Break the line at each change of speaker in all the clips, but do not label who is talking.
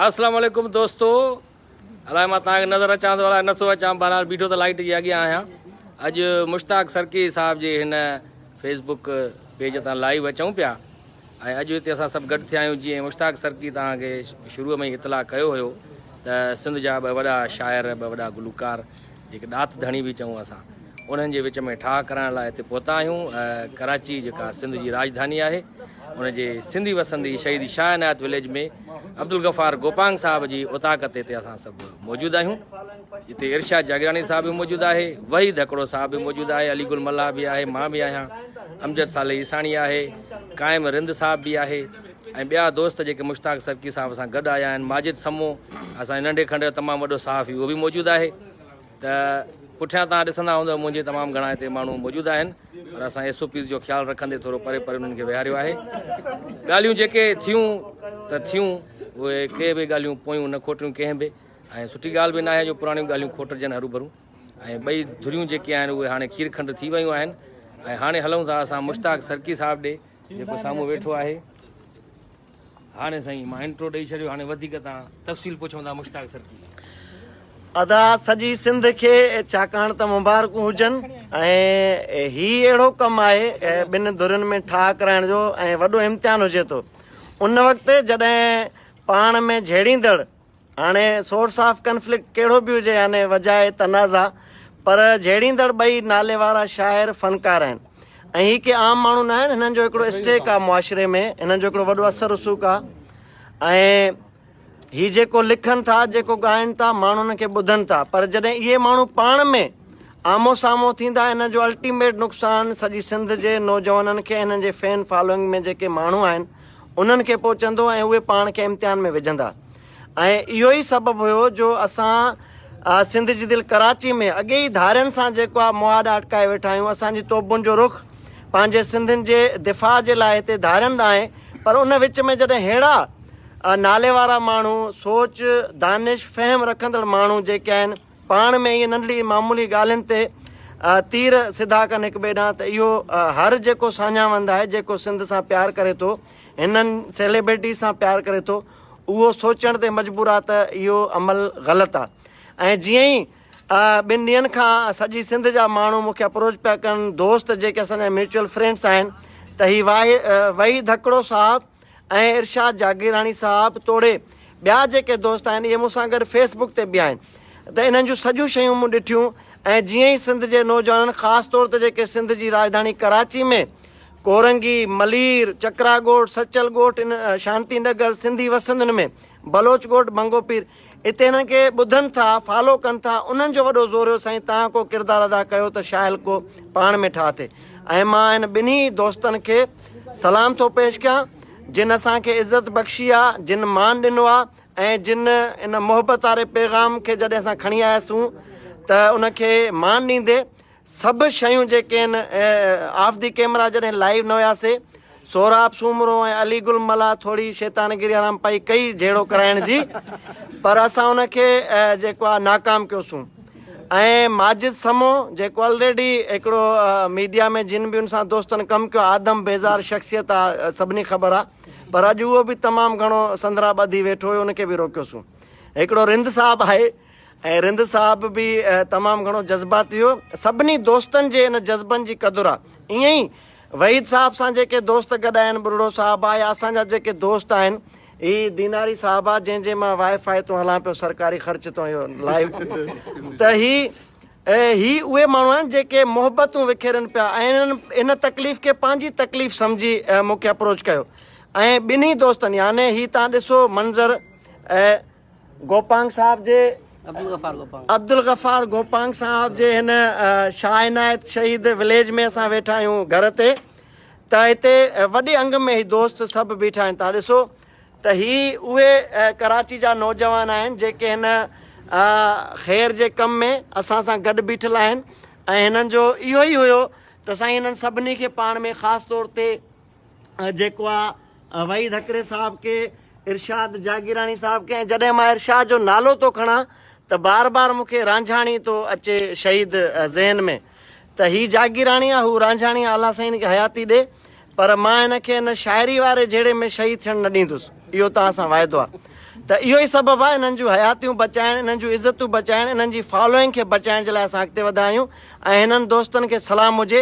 اسلام عليڪم دوستو الاء مان تان کي نظر اچان ٿو الاء نٿو اچان بهرحال بيٺو ته لائٽ جي اڳيان آهيان اڄ مشتاق سرڪي صاحب جي هن فيس بڪ پيج تان لائيو اچون پيا ۽ اڄ هتي اسان سڀ گڏ ٿيا آهيون جيئن مشتاق سرڪي تان کي شروع ۾ اطلاع ڪيو هيو ته سنڌ جا ٻه وڏا شاعر ٻه وڏا گلوڪار جيڪي ڏات ڌڻي به چئون اسان انهن جي وچ ۾ ٺاهه ڪرائڻ لاء هتي پهتا آهيون ڪراچي جيڪا سنڌ جي راجڌاني آهي ان جي سنڌي وسندي شهيد شاهه عنايت وليج ۾ عبدالغفار گوپانگ صاحب جي اوطاق تي تي اسان سڀ موجود آهيون جتي ارشاد جاگيراڻي صاحب به موجود آهي وحيد هڪڙو صاحب به موجود آهي علي گل ملاح به آهي مان به آهيان امجد صالح عيساڻي آهي قائم رند صاحب به آهي ۽ ٻيا دوست جيڪي مشتاق سرڪي صاحب سان گڏ آيا آهن ماجد سمو اسان جي ننڍي کنڊ جو تمام وڏو صحافي اهو به موجود آهي ته پٺيان توهان ڏسندا هوندو منهنجي تمام گهڻا هتي ماڻهو موجود آهن پر اسان ايس او پيز جو خيال رکندي ٿورو پري پري انهن کي ويهاريو آهي ڳالهيون جيڪي ٿيون ته ٿيون اهي ڪي به ڳالهيون پويون نه کوٽيون ڪنهن به ۽ سٺي ڳالهه به ناهي جو پراڻيون ڳالهيون کوٽجن هروڀرو ۽ ٻئي ڌريون جيڪي آهن اهي هاڻي کير کنڊ ٿي ويون آهن ۽ هاڻي هلون ٿا اسان مشتاق سرڪي صاحب ڏي جيڪو سامهون ويٺو آهي. هاڻي سائين مان انٽرو ڏئي ڇڏيو هاڻي وڌيڪ تان تفصيل پڇون ٿا مشتاق سر ٿي. ادا
سڄي سنڌ کي ڇاڪاڻ ته مبارڪون هجن ۽ هي اهڙو ڪم آهي ٻن ڌرين ۾ ٺاهه ڪرائڻ جو ۽ وڏو امتحان هجي ٿو ان وقت جڏهن پاڻ ۾ جهيڙيندڙ هاڻي سورس آف ڪنفلڪٽ ڪهڙو به هجي يعني وجهه تنازعا پر جهيڙيندڙ ٻئي ناليوارا شاعر فنڪار آهن ۽ هي ڪي عام ماڻهو نه آهن هنن جو هڪڙو اسٽيڪ آهي معاشري ۾ هنن جو هڪڙو وڏو اثر رسوخ آهي ۽ هي جيڪو لکن ٿا جيڪو ڳائن ٿا ماڻهو هنن کي ٻڌن ٿا پر جڏهن اهي ماڻهو پاڻ ۾ آمو سامو ٿيندا هنن جو الٽيميٽ نقصان سڄي سنڌ جي نوجوانن کي هنن جي فين فالوئنگ ۾ جيڪي ماڻهو آهن انهن کي پهچندو ۽ اهي پاڻ کي امتحان ۾ وجهندا ۽ اهو ئي سبب هيو جو اسان سنڌ جي دل ڪراچي ۾ اڳي ئي ڌارين سان جيڪو آهي مهاڏا اٽڪائي ويٺا آهيون اسان جي توبن جو رخ پنهنجي سنڌين جي دفاع جي لاء هتي ڌارين ڏانهن آهي پر ان وچ ۾ جڏهن ههڙا ناليوارا ماڻهو سوچ دانش فهم رکندڙ ماڻهو جيڪي آهن پاڻ ۾ ائين ننڍڙي معمولي ڳالهين تي تير سڌا ڪن هڪ ٻئي ڏانهن ته اهو هر جيڪو ساڃاهوند آهي جيڪو سنڌ سان پيار ڪري ٿو هنن سيليبرٽيز سان پيار ڪري ٿو اهو سوچڻ تي مجبور آ ته اهو عمل غلط آ ۽ جيئن ئي ٻن ڏينهن کان سڄي سنڌ جا ماڻهو مونکي اپروچ پيا ڪن دوست جيڪي اسان جا ميوچل فرينڊس آهن ته هي واهي وحي ڌڪڙو صاحب ۽ ارشاد جاگيراڻي صاحب توڙي ٻيا جيڪي دوست آهن اهي مون سان گڏ فيس بڪ تي به آهن ته انهن جون سڄيون شيون مون ڏٺيون ۽ جيئن ئي سنڌ جي نوجوانن خاص طور تي جيڪي سنڌ جي راڄڌاڻي ڪراچي ۾ ڪورنگي، ملير، چڪراڳوٺ، سچل ڳوٺ، شانتي نگر، سنڌي وسندين ۾ بلوچ ڳوٺ، بنگو پير، اتي هنن کي ٻڌن ٿا فالو ڪن ٿا انهن جو وڏو زور هيو سائين تهان ڪو ڪردار ادا ڪيو ته شاهل ڪو پاڻ ۾ ٺاهه ٿئي ۽ مان هن ٻنهي دوستن کي سلام ٿو پيش ڪيان جن اسان کي عزت بخشي آ جن مان ڏنو آ ۽ جن ان محبت واري پيغام کي جڏهن اسان کڻي آياسون ته ان کي مان ڏيندي سڀ شيون جيڪي آهن آف دي ڪيمرا جڏهن لائيو نه هياسي سهراب سومرو ۽ علي گل ملا ٿوري شيطان گري حرام پئي ڪئي جهيڙو ڪرائڻ جي پر اسان ان کي جيڪو آهي ناڪام ڪيوسون ۽ ماجد سمو جيڪو آلريڊي هڪڙو ميڊيا ۾ جن به ان سان دوستن ڪم ڪيو آدم بيزار شخصيت آهي سڀني خبر آهي پر اڄ اهو به تمام گهڻو سندرا ٻڌي ويٺو هيو ان کي به روڪيوسون هڪڙو رند صاحب آهي ۽ رند صاحب به تمام گهڻو جذباتي هو. سڀني دوستن جي ان جذبن جي قدر آ. ائين ئي وحيد صاحب سان جيڪي دوست گڏ آهن، ٻرڙو صاحب آ يا اسان جا جيڪي دوست آهن، هي ديناري صاحب آ جنهن جي مان وائي فائي تون هلان پيو سرڪاري خرچ تون اهو لائيو ته هي هي اهي ماڻهو آهن جيڪي محبتون وکيرن پيا ۽ ان تڪليف کي پنهنجي تڪليف سمجهي مون کي اپروچ ڪيو ۽ ٻنهي دوستن يعني هي تان ڏسو منظر ۽ گوپانگ صاحب جي عبدالغفار گوپانگ صاحب جي هن شاهه عنايت شهيد وليج ۾ اسان ويٺا آهيون گهر تي ته هتي وڏي انگ ۾ هي دوست سڀ بيٺا آهن تان ڏسو ته هي اهي ڪراچي جا نوجوان آهن جيڪي هن خير جي ڪم ۾ اسان سان گڏ بيٺل آهن ۽ هنن جو اهو ئي هيو ته سائين هنن سڀني کي پاڻ ۾ خاص طور تي جيڪو آ وحيد هڪڙي صاحب کي ارشاد جاگيراڻي صاحب کي جڏهن مان ارشاد جو نالو ٿو کڻا ته بار بار مون کي رانجهاڻي ٿو اچي شهيد ذهن ۾ ته هي جاگيراڻي آ هو رانجهاڻي آ الله سائين کي حياتي ڏي پر مان هن کي هن شاعري واري جهيڙي ۾ شهيد ٿيڻ نه ڏيندس اهو توهان سان واعدو آ ته اهو ئي سبب آ انهن جون حياتيون بچائڻ انهن جون عزتون بچائڻ انهن جي فالوئنگ کي بچائڻ جي لاء اسان اڳتي وڌا آهيون ۽ هنن دوستن کي سلام هجي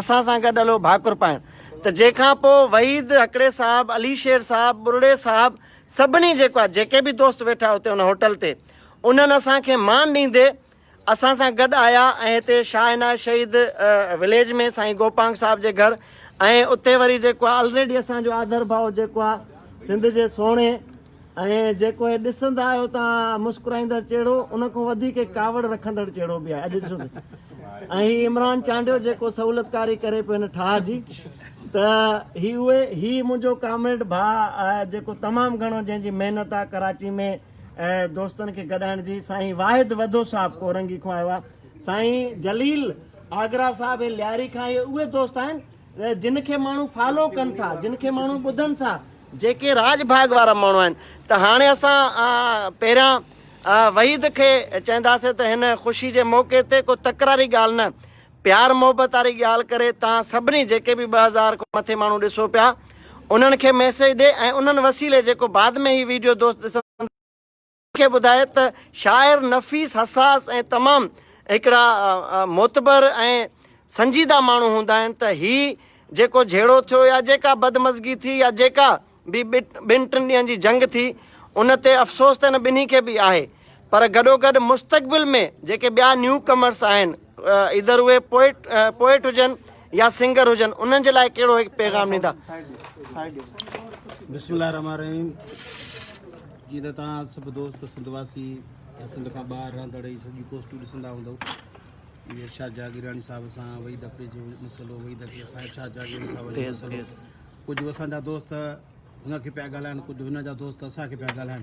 اسان سان گڏ هلو ڀاڪر پائڻ ته جنهن کان پوء وحيد هڪڙي صاحب، علي شير صاحب، ٻرڙي صاحب سڀني جيڪو آهي جيڪي به دوست ويٺا هتي ان هوٽل تي انهن اسان کي مان ڏيندي اسان سان گڏ آيا ۽ هتي شاهه عنايت شهيد وليج ۾ سائين گوپانگ صاحب جي گهر ۽ اتي وري جيڪو آهي الريڊي اسان جو آڌر ڀاء جيڪو آهي سنڌ جي سهڻي ۽ جيڪو هي ڏسندا آهيو ته مسڪرائيندڙ چهڙو ان کان وڌيڪ ڪاوڙ رکندڙ چهڙو به آهي اڄ ڏسو ته ۽ هي عمران چانڊيو جيڪو سهولتڪاري ڪري پيو هن ٺاهه جي ته هي اهي هي منهنجو ڪامريڊ ڀاء آهي جيڪو تمام گهڻو جنهن جي محنت آهي ڪراچي ۾ دوستن کي گڏائڻ جي سائين واحد وڌو صاحب ڪورنگي کان آيو آهي سائين جليل آگرا صاحب هي لياري کان اهي اهي دوست آهن جن کي ماڻهو فالو ڪن ٿا جن کي ماڻهو ٻڌن ٿا جيڪي راڄ ڀاڳ وارا ماڻهو آهن ته هاڻي اسان پهريان وحيد کي چئنداسي ته هن خوشي جي موقعي تي ڪو تڪراري ڳالهه نه پيار محبت واري ڳالهه ڪري تان سڀني جيڪي به ٻه هزار کان مٿي ماڻهو ڏسو پيا انهن کي ميسج ڏي ۽ انهن وسيلي جيڪو بعد ۾ هي ويڊيو دوست ڏسن کي ٻڌائي ته شاعر نفيس حساس ۽ تمام هڪڙا معتبر ۽ سنجيده ماڻهو هوندا آهن ته هي جيڪو جهيڙو ٿيو يا جيڪا بدمزگي ٿي يا جيڪا به ٻن ٽن ڏينهن جي جنگ ٿي ان تي افسوس ته هن ٻنهي کي به آهي پر گڏوگڏ مستقبل ۾ جيڪي ٻيا نيو ڪمرس آهن ايڌر اهي پوئٽ پوئٽ هجن يا سنگر هجن انهن جي لاء ڪهڙو هڪ پيغام ڏيندا
بسم الله الرحمن الرحيم جي ته تان سڀ دوست سنڌ واسي يا سنڌ کان ٻاهر رهندڙ هي سڄي پوسٽون ڏسندا هوندو ارشاد جاگيراڻي صاحب سان وحيد اپري جو مسئلو وحيد اپري سان ارشاد جاگيراڻي صاحب جو مسئلو ڪجهه اسان جا دوست هن کي پيا ڳالهائن ڪجهه هن جا دوست اسان کي پيا ڳالهائن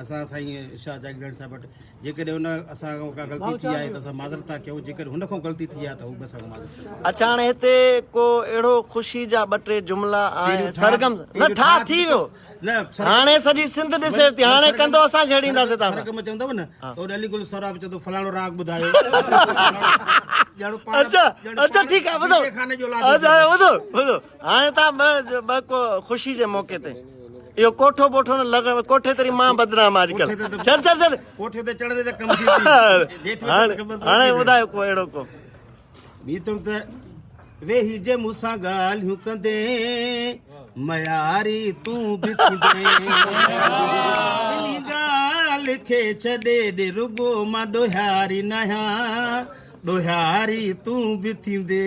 اسان سائين شاهه جاگيراڻي صاحب وٽ جيڪڏهن ان اسان کان ڪا غلطي ٿي آهي ته اسان معذرت ٿا ڪيون جيڪڏهن هن کان غلطي ٿي آهي ته هو به اسان کان معذرت ٿا ڪيون اڇا هاڻي هتي
ڪو اهڙو خوشي جا ٻه ٽي جملا آهن سرگم نه ٺاهه ٿي ويو هاڻي سڄي سنڌ ڏسي ٿي هاڻي ڪندو اسان ڇيڙينداسي تاسان سرگم چوندو نه ته
علي گل سهراب چوندو فلاڻو راڳ ٻڌايو اچھا
اچھا ٺيڪ آهي ٻڌو اچھا ٻڌو ٻڌو هاڻي تان ٻه ڪو خوشي جي موقعي تي اهو ڪوٺو ٻوٺو نه لڳڻ ڪوٺي تري مان بدنام آج ڪل چل چل چل ڪوٺي تي چڙهندي ته
ڪم ٿي جي ٿو هاڻي
ٻڌايو ڪو اهڙو ڪو بي تم
ته ويهي جي مون سان ڳالهيون ڪندي مياري تون به ٿيندي اني ڳالهه کي ڇڏي ڏي رڳو مان ڏوهاري ناهيان ڏوهاري تون به ٿيندي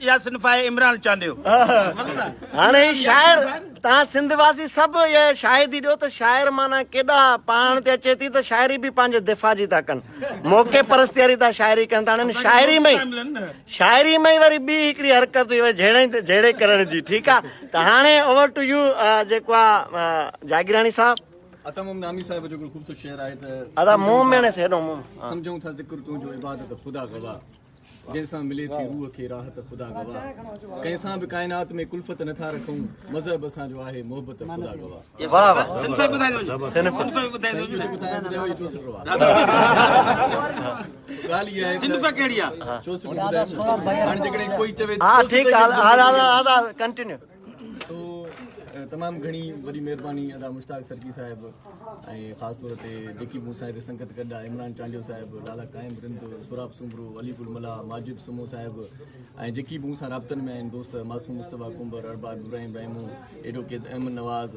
اها صنف
آهي عمران
چانڊيو. هاڻي هي شاعر تان سنڌ واسي سڀ اها شاهدي ڏيو ته شاعر معنيٰ ڪيڏا پاڻ تي اچي ٿي ته شاعري به پنهنجي دفاع جي ٿا ڪن موقعي پرستياري تان شاعري ڪن ٿا هڻن شاعري ۾ شاعري ۾ وري ٻي هڪڙي حرڪت هئي وري جهيڙي تي جهيڙي ڪرڻ جي ٺيڪ آهي ته هاڻي اوور ٽو يو جيڪو آهي جاگيراڻي صاحب عطا مومن عامي صاحب
جو خوبصورت شعر آهي ته ادا مومن
سيڏو مومن سمجھون ٿا ذڪر
تنهنجو عبادت خدا گواهه جنهن سان ملي ٿي روح کي راحت خدا گواهه ڪنهن سان به ڪائنات ۾ ڪلفت نه ٿا رکون مذهب اسان جو آهي محبت خدا گواهه
سو
تمام گهڻي وڏي مهرباني ادا مشتاق سرڪي صاحب ۽ خاص طور تي جيڪي مون سان هتي سنگت گڏ آهي عمران چانڊيو صاحب لالا قائم رند سوراب سومرو علي گل ملا ماجد سمو صاحب ۽ جيڪي مون سان رابطن ۾ آهن دوست معصوم مصطفيٰ ڪنبر ارباب ابراهيم رحمو ايڊوڪيٽ احمد نواز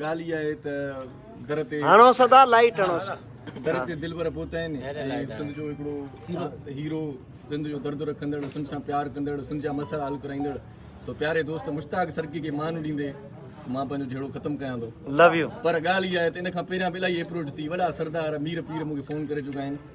ڳالهه اها آهي
ته در تي هڻو صدا لائيٽ هڻو
صدا در تي دلبر
پهتا آهن ۽ سنڌ جو هڪڙو هيرو سنڌ جو درد رکندڙ سنڌ سان پيار ڪندڙ سنڌ جا مسئلا حل ڪرائيندڙ سو پياري دوست مشتاق سرڪي کي مان ڏيندي مان پنهنجو جهيڙو ختم ڪيان ٿو لو يو پر ڳالهه
اها آهي ته ان
کان پهريان به الاهي اپروچ ٿي وڏا سردار مير پير مون کي فون ڪري چڪا آهن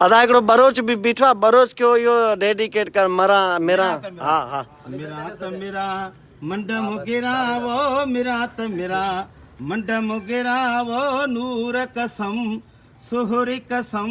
ادا هڪڙو بروچ
به بيٺو آ بروچ کي اهو ڊيڊيڪيٽ ڪر مران مران ها ها مران
ته مران منڊ مگران وو مران ته مران منڊ مگران وو نور قسم سهري قسم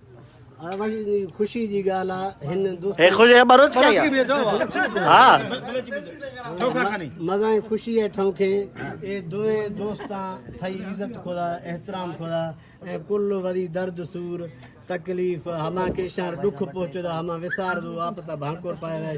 خوشي جي ڳالهه آ هن دوست هي خوشي کي بروچ ڪئي
ها
مزا ۽ خوشي ۽ ٺون کي اي دوئي دوستا ٿئي عزت خدا احترام خدا ۽ ڪل وري درد سور تڪليف هما کي شهر ڏک پهچدا هما وسار دو آپ تا ڀانڪور پائي رهي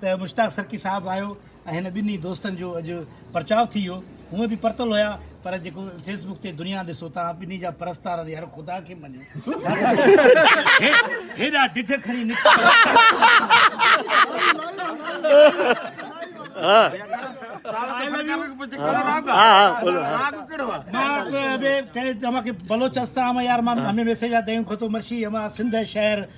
ته مشتاق سرڪي صاحب آيو ۽ هن ٻنهي دوستن جو اڄ پرچاء ٿي ويو. هونء به پرتل هيا پر جيڪو فيس بڪ تي دنيا ڏسو تان ٻنهي جا پرستار اڙي هر خدا کي مڃو ڇاڪاڻ هيڏا ڊڍ کڻي نڪتا.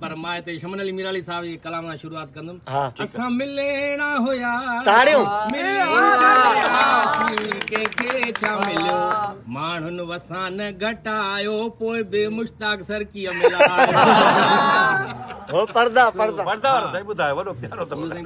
پر مان هتي
شمن علي ميرالي صاحب جي ڪلام سان شروعات ڪندم اسان
مليڻا
هيا تاڙيون ماڻهن وسان گهٽايو پوء به مشتاق سرڪي ملايو
هو پردا پردا پردا صحيح ٻڌايو
وڏو پيارو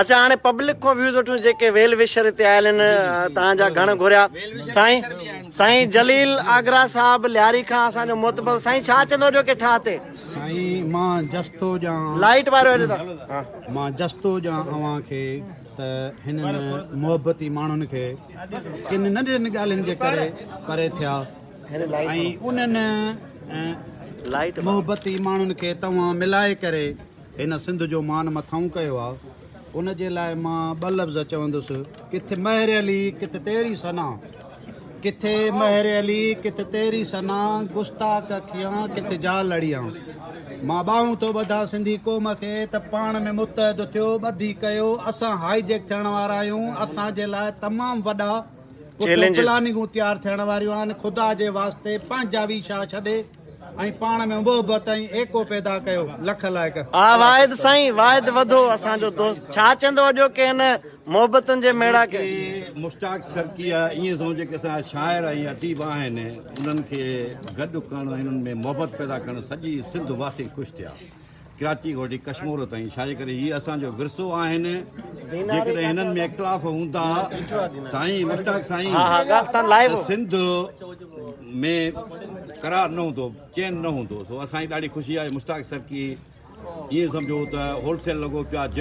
اچان هاڻي پبلڪ
کان ويوز وٺون جيڪي ويل وشر هتي آيل آهن تان جا گهڻ گهريا سائين سائين جليل آگرا صاحب لياري کان اسان جو معتبر سائين ڇا چندو جو ڪي ٺاهه تي سائين مان
جستو جا لائيٽ وارو هلي ٿا
مان جستو جا
اوهان کي ته هن محبتي ماڻهن کي ڪن ننڍڙين ڳالهين جي ڪري پري ٿيا ۽
انهن لائيٽ محبتي
ماڻهن کي توهان ملائي ڪري هن سنڌ جو مان مٿاهون ڪيو آ ان جي لاء مان ٻه لفظ چوندس ڪٿ مهر علي ڪٿ تيري سنا ڪٿ مهر علي ڪٿ تيري سنا گستاخ اکيان ڪٿ جا لڙيان مان ٻاهون ٿو ٻڌا سنڌي قوم کي ته پاڻ ۾ متحد ٿيو ٻڌي ڪيو اسان هائي جيڪ ٿيڻ وارا آهيون اسان جي لاء تمام وڏا پلاننگون تيار ٿيڻ واريون آهن خدا جي واسطي پنهنجا ويشا ڇڏي ۽ پاڻ ۾ محبت ۽ ايڪو پيدا ڪيو. لک الائڪ. ها واحد سائين
واحد وڌو اسان جو دوست ڇا چيندو اڄوڪي هن محبتن جي ميڙاڪ کي. مشتاق سرڪي
آ ائين سمجهو جيڪي اسان جا شاعر ۽ اديب آهن انهن کي گڏ ڪرڻ ۽ انهن ۾ محبت پيدا ڪرڻ سڄي سنڌ واسي خوش ٿيا. ڪراچي کان وٺي ڪشمور تائين ڇاجي ڪري هي اسان جو ورثو آهن جيڪڏهن هنن ۾ اختلاف هوندا سائين مشتاق سائين
سنڌ
۾ قرار نه هوندو چين نه هوندو سو اسان جي ڏاڍي خوشي آهي مشتاق سرڪي ائين سمجهو ته هولسيل لڳو پيو